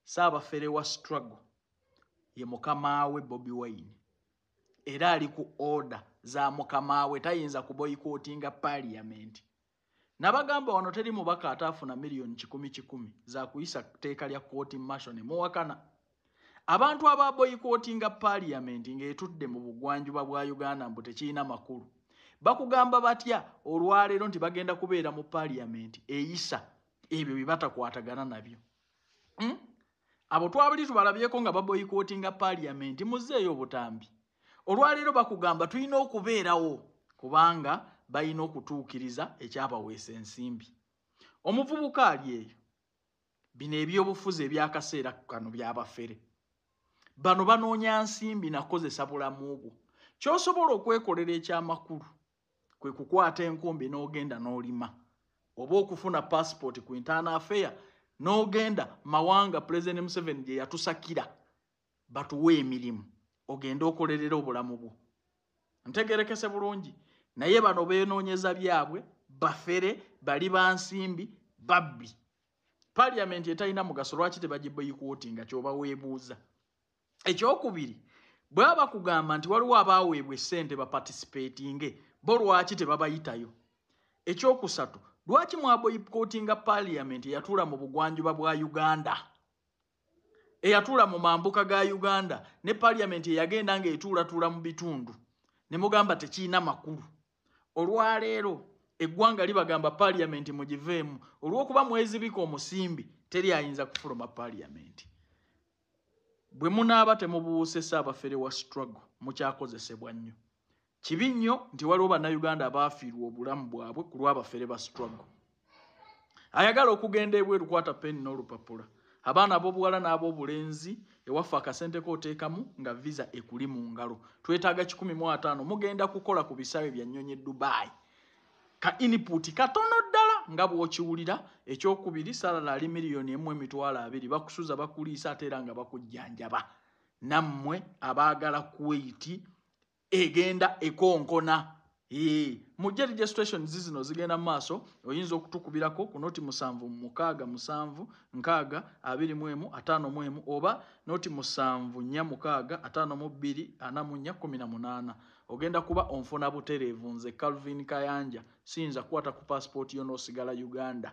saabafere wa struggle ye mukamaawe bobi wine era ali ku order za mukamaawe tayinza kuboyikotinga parliament nabagamba wano teri mubaka ataafuna miliyoni kikumi kikumi zakuyisa teeka lya kooti masho ne muwakana abantu ababoyikotinga parliament ngaetudde mu bugwanjuba bwa uganda mbu tekirina makulu bakugamba batya olwaleero nti bagenda kubeera mu parliament eyisa ebyo bye batakwatagana nabyo hmm? abo twabuli tubalabyeko nga baboyikootinga paaliyamenti muzeeyo obutambi olwaleero bakugamba tulina okubeerawo kubanga balina okutuukiriza ekyabaweesa ensimbi omuvubuka ali eyo bino ebyobufuzi ebyakaseera kano byabafere bano banoonya nsimbi nakozesa bulamu bwo kyosobola okwekolera ekyamakulu kwe kukwata enkumbi n'ogenda n'olima oba okufuna paasipooti ku intaana afeya n'ogenda mawanga pulezidenti museveni gye yatusakira batuwe emirimu ogende okolerera obulamu bwo ntegerekese bulungi naye bano beenoonyeza byabwe bafere bali bansimbi babbi paliyamenti etalina mugaso lwaki tebagibeyikuoti nga kyoba weebuuza ekyokubiri bwaba bakugamba nti waliwo abaaweebwa essente baparticipatinge bo lwaki tebabayitayo ekyokusatu lwaki mwaboyikotinga paliament eyatuula mu bugwanjuba bwa uganda eyatuula mu mambuka ga uganda ne paliament eyagenda nga etuulatuula mu bitundu ne mugamba tekirina makulu olwaleero eggwanga libagamba paliyamenti mugiveemu olw'okuba mwezibika omusimbi teri ayinza kufuluma paliyamenti bwe munaaba temubuuse saabafere wa struggle mukyakozesebwa nnyo kibi nnyo nti waliwo bannayuganda abaafiirwa obulamu bwabwe ku lw'abafere ba struggle ayagala okugenda ebweru kwata peni n'olupapula abaana ab'obuwala n'ab'obulenzi ewaffe akasente kooteekamu nga visa ekuli mu ngalo twetaaga kikumi mu ataano mugenda kukola ku bisaawe bya nnyonyi dubai ka iniputi katono ddala nga bw'okiwulira ekyokubiri salala ali miliyoni emu emitwalo abiri bakusuza bakuliisa ate era nga bakujjanjaba nammwe abaagala kuweyiti egenda ekonkona mujje registration zizino zigenda mu maaso oyinza okutukubirako ku noti musanvu mukaaga musanvu nkaaga abiri mu emu ataano mu emu oba noti musanvu nnya mukaaga ataano mu bbiri ana mu nnya kumi na munaana ogenda kuba onfuna butereevu nze calvin kayanja siyinza kukwata ku paasipooti yo n'osigala uganda